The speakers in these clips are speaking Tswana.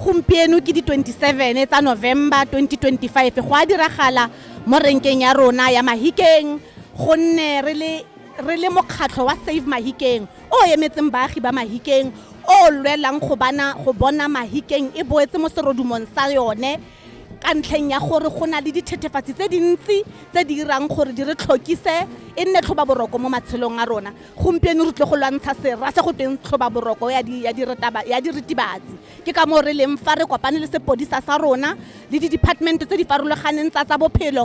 gompieno ke di 27 tsa november 2025 go a diragala mo renkeng ya rona ya mahikeng gonne re le mokgatlho wa save mahikeng o emetseng baagi ba Mahikeng o lwelang go bana go bona Mahikeng e boetse mo serodumong sa yone ka ntlheng ya gore go na le dithethefatsi tse dintsi tse di irang gore di re tlhokise e nne tlhoba boroko mo matshelong a rona gompieno re tle go lwantsha sera se go tweng tlhoba boroko ya diritibatsi ke ka moo re leng fa re kopane le sepodisa sa rona le di-department tse di farologaneng tsa tsa bophelo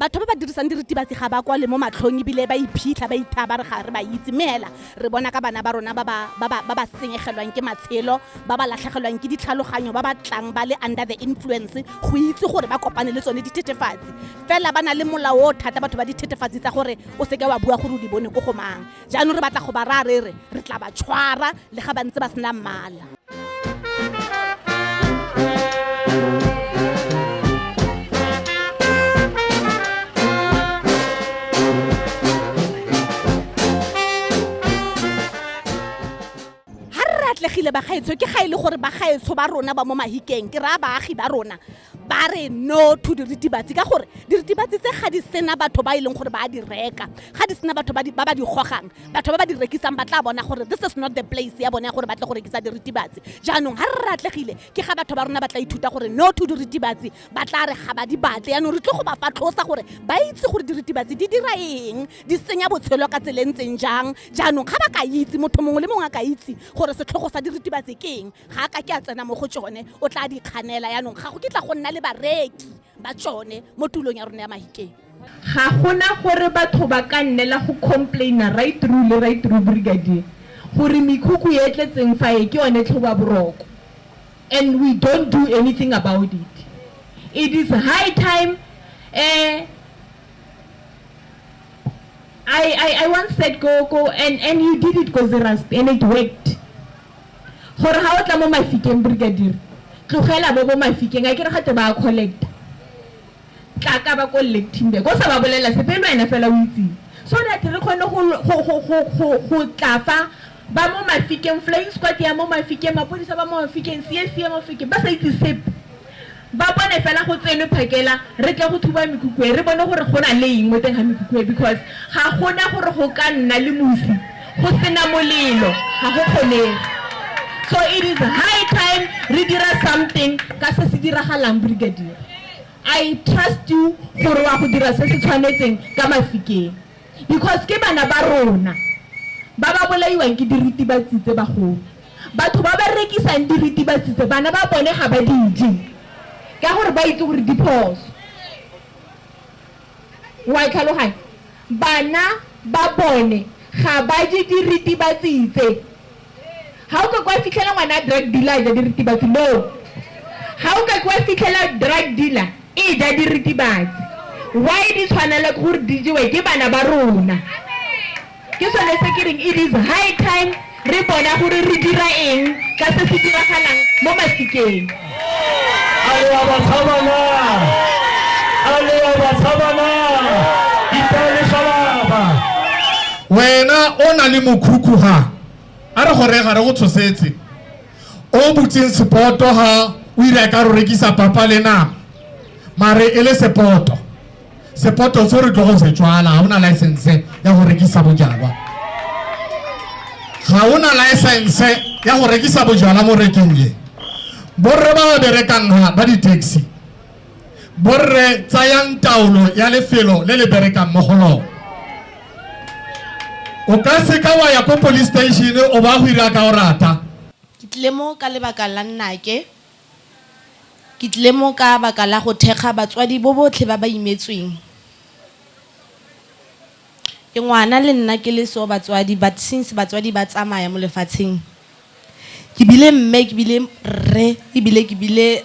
batho ba ba dirisang diritibatsi ga ba kwale mo matlhong ebile ba iphitlha ba ithaa ba re ga re ba itse mme hela re bona ka bana ba rona ba ba senyegelwang ke matshelo ba ba latlhegelwang ke ditlhaloganyo ba ba tlang ba le under the influence go itse gore ba kopane le tsone dithethefatsi fela ba na le molao o thata batho ba dithethefatsi tsa gore o seke wa bua gore o di bone ko go mang Jaanong re batla go ba raya re re re tla ba tshwara le ga ba ntse ba sena mmala. atlegile bagaetsho ke ga e le gore bagaetsho ba rona ba mo mahikeng ke raya baagi ba rona ba re no to diritibatsi ka gore diritibatsi tse ga di sena batho ba e leng gore ba di reka ga di sena batho ba ba di gogang batho ba ba di rekisang ba tla bona gore this is not the place ya bone ya gore ba tle go rekisa diritibatsi jaanong ga re ratlegile ke ga batho ba rona ba tla ithuta gore no to diritibatsi ba tla re ga ba di batle yaanong re tle go ba fatlhosa gore ba itse gore diritibatsi di dira eng di senya botshelo ka tsele ntseng jang jaanong ga ba ka itse motho mongwe le mongwe a ka itse gore setlhogo sa diritibatsi ke eng ga ka ke a tsena mo go tsone o tla di kganela yaanong ga go ke tla go nna le bareki ba tsone mo tulong ya rona ya mahikeng ga gona gore batho ba ka nnela go complaina right through le right through brigadier gore mekhukhu e tletseng fa e ke yone tlhoba boroko and we don't do anything about it it is high time eh I, I, I once said go, go and, and you did it ko Zerast and it worked gore ga o tla mo mafikeng brigadier tlogela bo bo mafikeng a ke re gate ba a collecta tla ka ba ko lecting be ko sa ba bolela sepe le wena fela o itseng so that re kgone go tla fa ba mo mafikeng flying squad ya mo mafikeng mapodisa ba mo mafikeng csa mafikeng ba sa itse sepe Ba bone fela go tsenwe phakela re tle go thuba mekhukhu e, re bone gore go na le eng mo teng ga mekhukhu e because ga go na gore go ka nna le mosi go sena molelo, ga go kgonege. So it is high time re dira something ka se se diragalang Brigadier. I trust you gore wa go dira se se tshwanetseng ka Mafikeng because ke bana ba rona ba ba bolaiwang ke diritibatsi tse bagolo. Batho ba ba rekisang diritibatsi tse bana ba bone ga ba di je ka gore ba itse gore di phoso. Wa e tlhaloganya? Bana ba bone ga ba je diritibatsi tse. Ga o ka kwa fitlhela ngwana drug dealer a ja diritibatsi, no. Ga o ka kwa fitlhela drug dealer e ja diritibatsi. Why di tshwanelwa ke gore di jewe ke bana ba rona. ke sone se ke reng it is high time re bona gore re dira eng ka se se diragalang mo masikeng a le ya batshabana a le ya batshabana itaele shalaba wena o na le mokhukhu ga a re gore ga re go tshosetse o butseng sepoto ga o ira ka re rekisa papa le nama mare e le sepoto sepoto se re tlo go se tswala ga ona license ya go rekisa bojalwa ga ona license ya go rekisa bojalwa mo reking ye borre ba ba berekang ga ba di-taxi borre tsayang taolo ya lefelo le le berekang mo go lone o ka seka wa ya ko police station o ba go ira ka o rata ke tlile mo ka lebaka la nnake Ke tlile mo ka baka la go thekga batswadi bo botlhe ba ba imetsweng. Ke ngwana le nna ke le so batswadi but since batswadi ba tsamaya mo lefatsheng ke bile mme ke bile rre ebile ke bile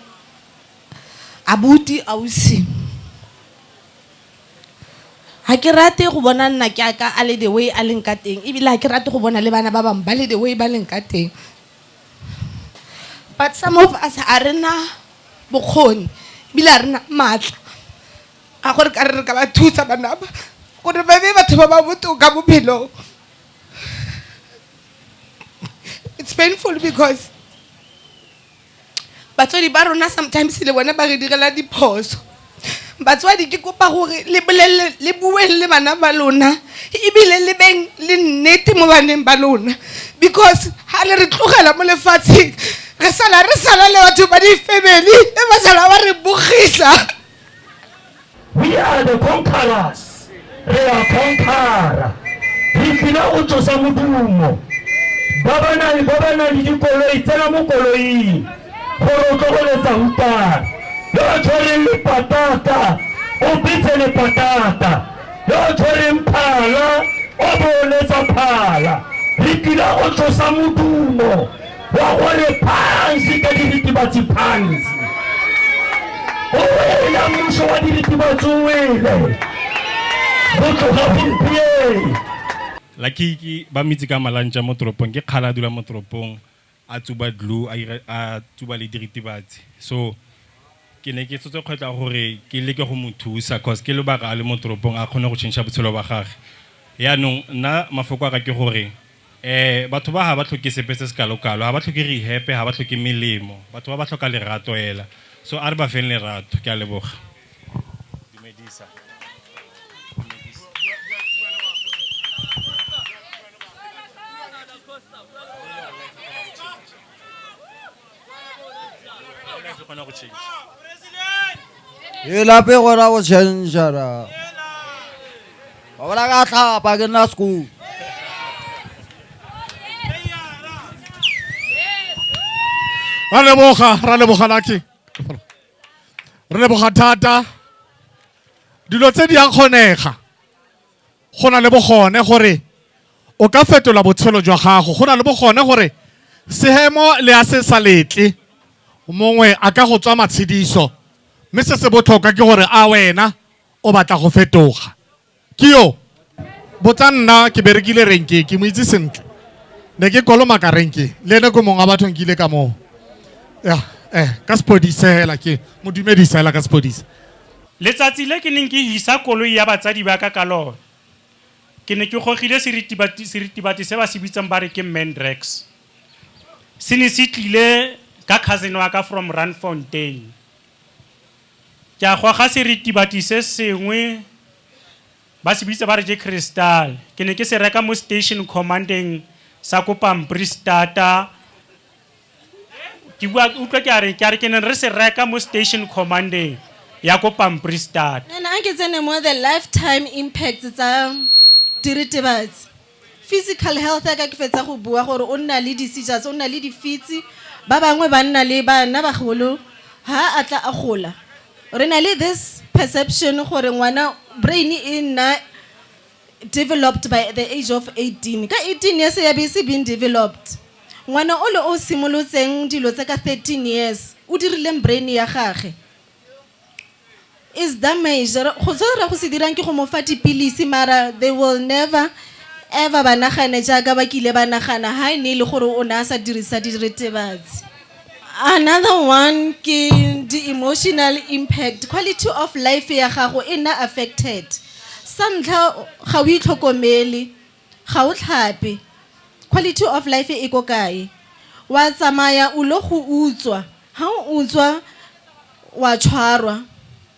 abuti, ausi. Ga ke rate go bona nna ke ya ka a le the way a leng ka teng ebile ga ke rate go bona le bana ba bangwe ba le the way ba leng ka teng. but some of us a re na bokgoni ebile a re na maatla ga gore ka re re ka ba thusa banaba gore ba be batho ba ba botoka bophelong it's painful because batswadi ba rona sometimes le bone ba re direla diphoso batswadi ke kopa gore le bolelele le bueng le bana ba lona ebile le beng le nnete mo baneng ba lona because ha le re tlogela mo lefatsheng re sala re sala le batho ba di-family e ba sala ba re bogisa we are the conquerors re a conquera re tlile go tsosa modumo ba ba na le ba ba na le dikoloi tsena mo koloing gore o tlogoletsa hutana yo o tshwereng lepatata o betse lepatata yo o tshwereng phala o boletsa phala re tlile go tsosa modumo wa gore phansi ka diritibatsi phansi o wele mmuso wa diritibatsi o wele go tloga gompieno lakiki ba mitse ka malantša mo toropong ke kgala a dula mo toropong a tsuba dlu a ira- a tsuba le diritibatsi so ke ne ke setse kgwetla gore ke leke go mo thusa cause ke lobaka a le mo toropong a kgone go change botshelo ba gage yaanong nna mafoko a ka ke gore Eh, batho ba ha ba tlhoke sepe se se kalokalo, ha ba tlhoke rihepe, ha ba tlhoke melemo. Batho ba ba tlhoka lerato ela. So a re ba feng lerato. Ke a leboga. Dumedisa. e lape gona go chanjara ba bola ka tlhapa ke nna school ra leboga ra leboga laki re leboga thata dilo tse di a kgonega go na le bogone gore o ka fetola botshelo jwa gago go na le bogone gore sehemo le a se sa letle mongwe a ka go tswa matshediso mme se se botlhokwa ke gore a wena o batla go fetoga ke yo botsa nna ke berekile renke ke mo itse sentle ne ke kolomaka renke le ene ko mongwe wa bathong ke ile ka moo ya eh ka sepodise hela ke mo dumedisa hela ka sepodise Letsatsi le ke neng ke hisa koloi ya batsadi ba ka ka lone, ke ne ke gogile seritibati se ba se bitsang ba re ke Mandrax. Se ne se tlile ka cousin wa ka from Randfontein. Ke a goga seritibati se sengwe ba se bitsa ba re ke Crystal, ke ne ke se reka mo station command-eng sa ko Pamprisstad, ke bua utlwa ke a re ke a re ke neng re se reka mo station commandeng ya ko pampri start And I get any more the lifetime impact tsa diritibatsi. Physical health ya ka ke fetsa go bua gore o nna le di-seizures, o nna le difitse. Ba bangwe ba nna le bana bagolo ha a tla a gola. Re na le this perception gore ngwana brain e nna developed by the age of 18 ka 18 years ya be e se being developed ngwana o le o simolotseng dilo tse ka 13 years o dirileng brain ya gage is damage go se re go se dirang ke go mo fa dipilisi mara they will never ever ba nagane jaaka ba kile ba nagana ha e ne e le gore o ne a sa dirisa diretebatsi Another one ke the emotional impact, quality of life ya gago e nna affected. Sa ntlha ga o itlhokomele, ga o tlhape, quality of life e ko kae? Wa tsamaya o ile go utswa, ha o utswa wa tshwarwa.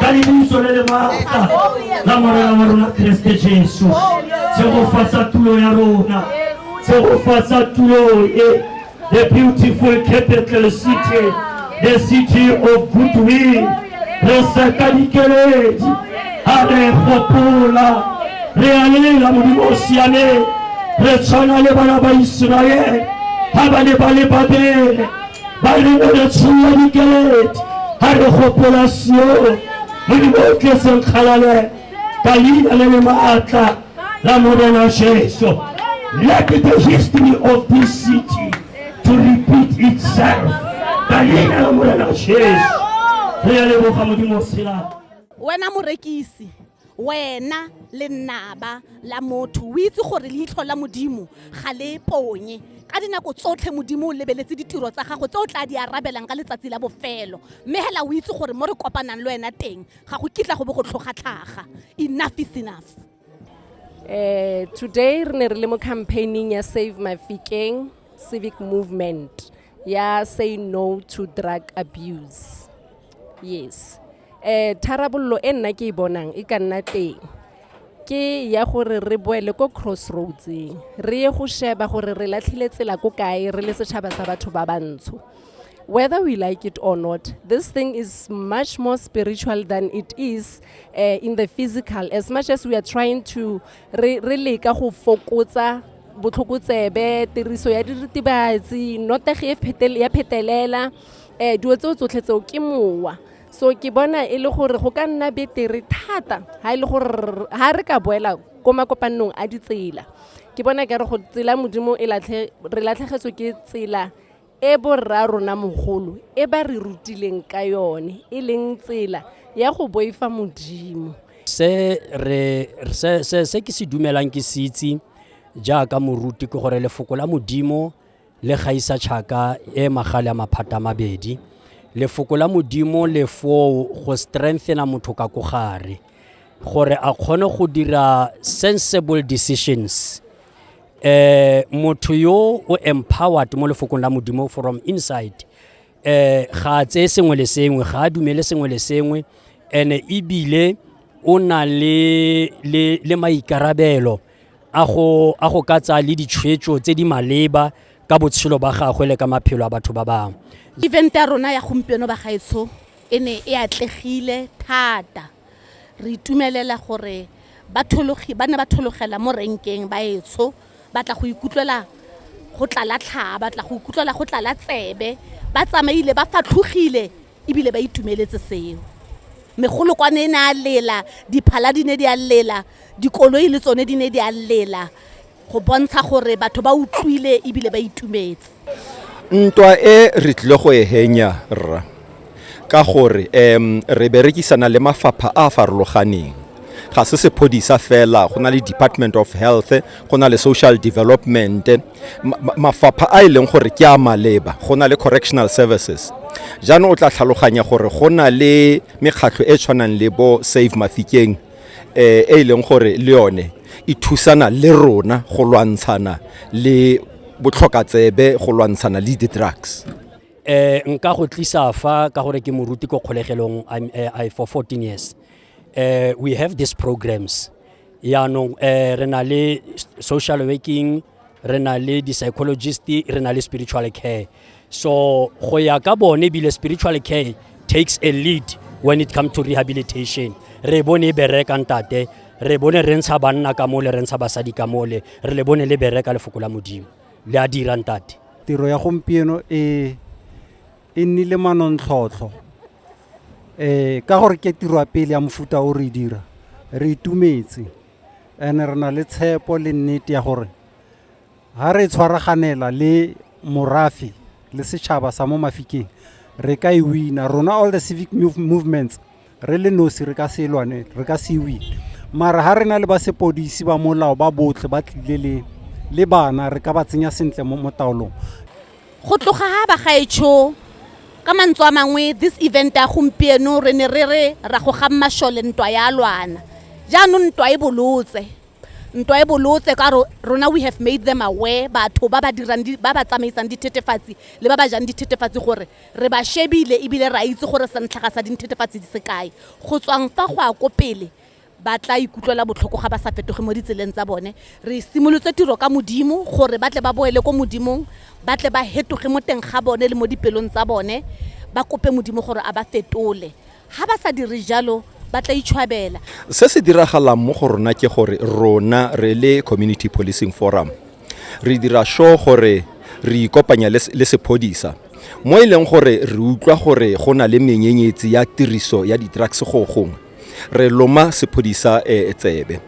ka lebuso le le maatla la morena wa rona keresete jesu tshegofatsa tulo ya rona tshegofatsa tulo e the beautiful capital city the city of goodwill re seka dikeledi a re gopola re a lela modimo o siameng re tshwana le bana ba iseraele ga ba ne ba le babele ba re o re tsholola dikeledi ga re gopola sione modimo o tletseng kgalale ka leina le le maatla la morena jesu let the history of this city to repeat itself ka leina la morena jesu re ya leboga modimo tshela wena morekisi wena le nnaba la motho o itse gore leitlho la modimo ga le ponye ka dinako tsotlhe modimo o lebeletse ditiro tsa gago tse o tla di arabelang ka letsatsi la bofelo mme hela o itse gore mo re kopanang le wena teng ga go kitla go bo go tlhogatlhaga enough is enough Eh, today re ne re le mo campaigning ya save mafikeng civic movement ya say no to drug abuse yes um tharabololo e nna ke e bonang e ka nna teng ke ya gore re boele ko crossroadseng re ye go sheba gore re latlhile tsela ko kae re le setšhaba sa batho ba bantsho whether we like it or not this thing is much more spiritual than it is uh, in the physical as much as we are trying to re leka go fokotsa botlhokotsebe tiriso ya diritibatsi notegi ya phetelela um dilo tseo tsotlhe tseo ke mowa so ke bona e le gore go ka nna betere thata ga e le gore ga re ka boela ko makopanong a ditsela ke bona ke re go tsela modimo e re latlhegetswe ke tsela e borra rona mogolo e ba re rutileng ka yone e leng tsela ya go boifa modimo se re se se se ke se dumelang ke se itse jaaka moruti ke gore lefoko la modimo le gaisa tšhaka e magale ya maphata a mabedi lefoko la modimo le foo go strengthena motho ka ko gare gore a kgone go dira sensible decisions eh motho yo o empowered mo lefokong la modimo from inside eh ga a tseye sengwe le sengwe ga a dumele sengwe le sengwe ene ebile o na le, le, le maikarabelo a go, a go ka tsaya le ditshwetso tse di maleba ka botshelo ba gagwe le ka maphelo a batho ba bangwe event ya rona ya gompieno bagaetsho e ne e atlegile thata Re itumelela gore bathologi ba ne ba thologela mo renkeng baetsho ba tla go ikutlwela go tlala tlhaa, ba tla go ikutlwela go tlala tsebe, ba tsamaile ba fatlhogile ebile ba itumeletse seo. Megolokwane e ne a lela, diphala di ne di a lela, dikoloi le tsone di ne di a lela. go bontsha gore batho ba utlwile ebile ba itumetse ntwa e re tlile go e henya rra ka gore um re berekisana le mafapha a a farologaneng ga se sephodisa fela go na le department of health go na le social development mafapha a e leng gore ke a maleba go na le correctional services jaanong o tla tlhaloganya gore go na le mekgatlho e tshwanang le bo save mafikeng eh, e e leng gore le yone e thusana le rona go lwantshana le botlhokatsebe go lwantshana le di-drugs eh nka go tlisa fa ka gore ke moruti ko kgolegelong I'm, eh, I, for 14 years eh we have these programs yaanong eh re na le s- social working re na le di-psychologist re na le spiritual care so go ya ka bone ebile spiritual care takes a lead when it comes to rehabilitation re bone e bereka ntate re bone re ntsha banna ka mole re ntsha basadi ka mole re le bone le bereka lefoko la modimo le a dira ntate tiro ya gompieno e e nnile manontlhotlho um ka gore ke tiro ya pele ya mofuta o re dira re itumetse and re na le tshepo le nnete ya gore Ha re tshwaraganela le morafe le setšhaba sa mo Mafikeng re ka e wina rona all the civic movements re le nosi re ka se lwane re ka se win mara ha re na le ba sepodisi ba molao ba botlhe ba tlile le le bana re ka ba tsenya sentle mo mo taolong go tloga ha bagaetsho ka mantswe a mangwe this event ya gompieno re ne re re ra go ga mmashole ntwa ya lwana jaanong ntwa e bolotse ntwa e bolotse ka ro- rona we have made them aware batho ba ba dirang di- ba ba tsamaisang dithetefatsi le ba ba jang dithetefatsi gore re ba shebile ebile re a itse gore santlhaga sa dithetefatsi di se kae go tswang fa go a ko pele ba tla ikutlwela botlhoko ga ba sa fetoge mo ditseleng tsa bone re simolotse tiro ka modimo gore ba tle ba boele ko modimong ba tle ba hetoge mo teng ga bone le mo dipelong tsa bone ba kope modimo gore a ba fetole ga ba sa dire jalo ba tla itshwabela se se diragalang mo go rona ke gore rona re le community policing forum re dira sure gore re ikopanya le sephodisa mo e leng gore re utlwa gore go na le menyenyetsi ya tiriso ya di-drugs go gongwe re loma sephodisa um tsebe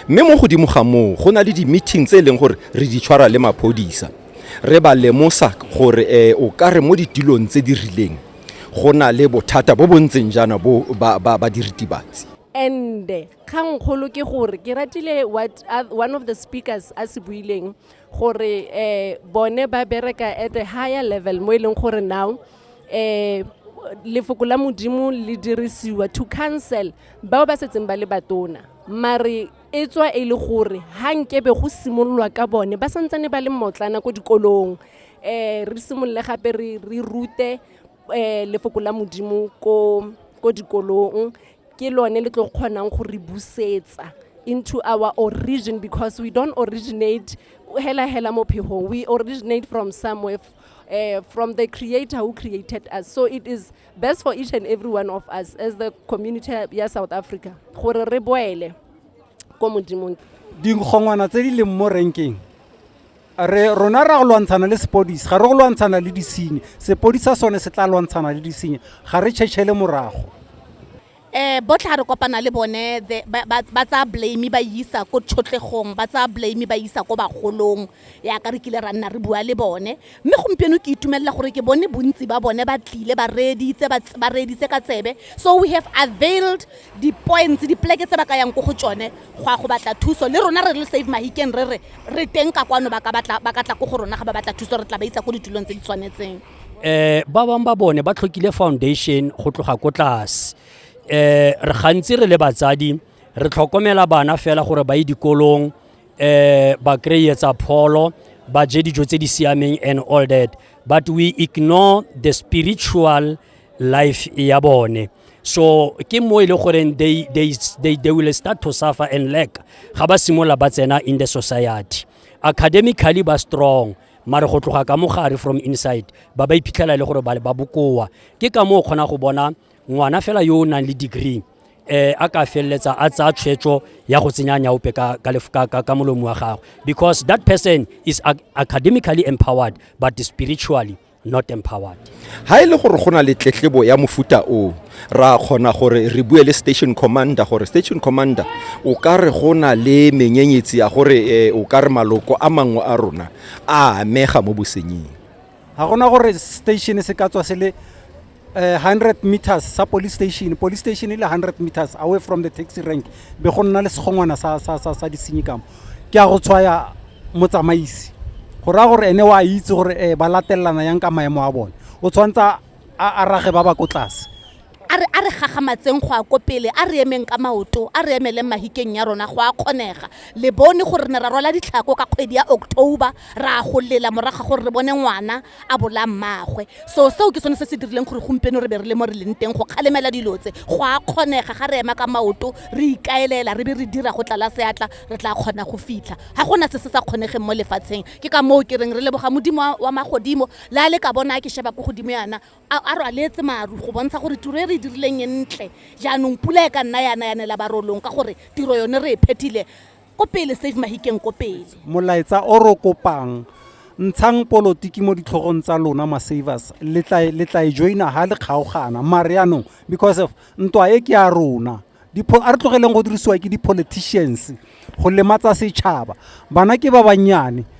mme mo godimo ga moo go na le di-meeting tse e leng gore re di tshwara le maphodisa re ba lemosa gore um o ka re mo ditilong tse di rileng go na le bothata bo bo ntseng jaana bo ba, ba, ba diritibatsi and kgangkgolo ke gore ke ratile what uh, one of the speakers a se buileng gore eh, bone ba bereka at a higher level mo e leng gore now eh, lefoko la modimo le dirisiwa to cancel bao ba setseng ba le batona mare e tswa e le gore ha nkebe go simololwa ka bone ba santsane ba le mmotlana ko dikolong um re simolole gape re rute um lefoko la modimo ko dikolong ke lone le tlo kgonang go re busetsa into our origin because we don't originate hela hela mo phegong we originate from somewhere uh, from the creator who created us so it is best for each and every one of us as the community ya south africa gore re boele ko modimong dikgongwana tse di leng mo renkeng re rona ra go lwantshana le sepodisi ga re go lwantshana le disenyi sepodisa sone se tla lwantshana le disenyi ga re tšhetšhele morago um botlhe ga re kopana le bone ba tsaya blame ba isa ko tšhotlhegong ba tsaya blame ba isa ko bagolong yaka re kile ra nna re bua le bone mme gompieno ke itumelela gore ke bone bontsi ba bone ba tlile ba reeditse ba reeditse ka tsebe so we have availed di-points dipoleke tse ba ka yang ko go tsone go ya go batla thuso le rona re le save mahikeng re re re teng ka kwano ba ka tla ko go rona ga ba batla thuso re tla ba isa ko ditulong tse di tshwanetseng eh ba bang ba bone ba tlhokile foundation go tloga ko tlase eh re gantsi re le batsadi re tlhokomela bana fela gore ba ye dikolong eh ba kry-e tsa pholo ba je dijo tse di siameng and all that but we ignore the spiritual life ya bone so ke mo e le goreng they, they, they, they will start to suffer and lack ga ba simolola ba tsena in the society academically ba strong mare go tloga ka mogare from inside ba ba iphitlhela e le gore ba bokoa ke ka moo o kgona go bona ngwana fela yo o nang le degree eh a ka feleletsa a tsaya tshwetso ya go tsenya nyaope ka ka lefka ka ka molomo wa gagwe because that person is ac- academically empowered but spiritually not empowered ha e le gore go na le tletlebo ya mofuta o ra kgona gore re bue le station commander gore station commander o ka re go na le menyenyetsi ya gore eh, o ka re maloko a mangwe a rona a amega mo bosenying ga gona gore station se ka tswa se le eh, 100 meters sa police station police station e le 100 meters away from the taxi rank be go nna le segongwana sa, sa, sa, sa disenyi kamo ke a go tshwaya motsamaisi go raya gore ene wa itse gore um ba latelelana yang ka maemo a bone o tshwanetse a rage ba ba ko tlase a re a re gagamatseng go a ko pele a re emeng ka maoto a re emeleng mahikeng ya rona go a kgonega le bone gore ne ra rwala ditlhako ka kgwedi ya october ra go lela morago gore re bone ngwana a bolaya mmaagwe so seo ke sone se se dirileng gore gompieno re be re le mo re leng teng go kgalemela dilo tse go a kgonega ga re ema ka maoto re ikaelela re be re dira go tlala seatla re tla kgona go fitlha ga gona se se sa kgonegeng mo lefatsheng ke ka moo ke reng re leboga modimo wa- wa magodimo le a le ka bona a ke sheba ko godimo yana a a rwaletse maru go bontsha gore tiro e re e dirileng e ntle jaanong pula e ka nna yana yanela barolong ka gore tiro yone re e phethile Ko pele Save Mahikeng ko pele. Molaetsa o ro kopang ntshang polotiki mo ditlhogong tsa lona ma savers le tla e joina ha le kgaogana mare yaanong because of ntwa e ke ya rona a re tlogeleng go dirisiwa ke di-politicians go lematsa setšhaba bana ke ba bannyane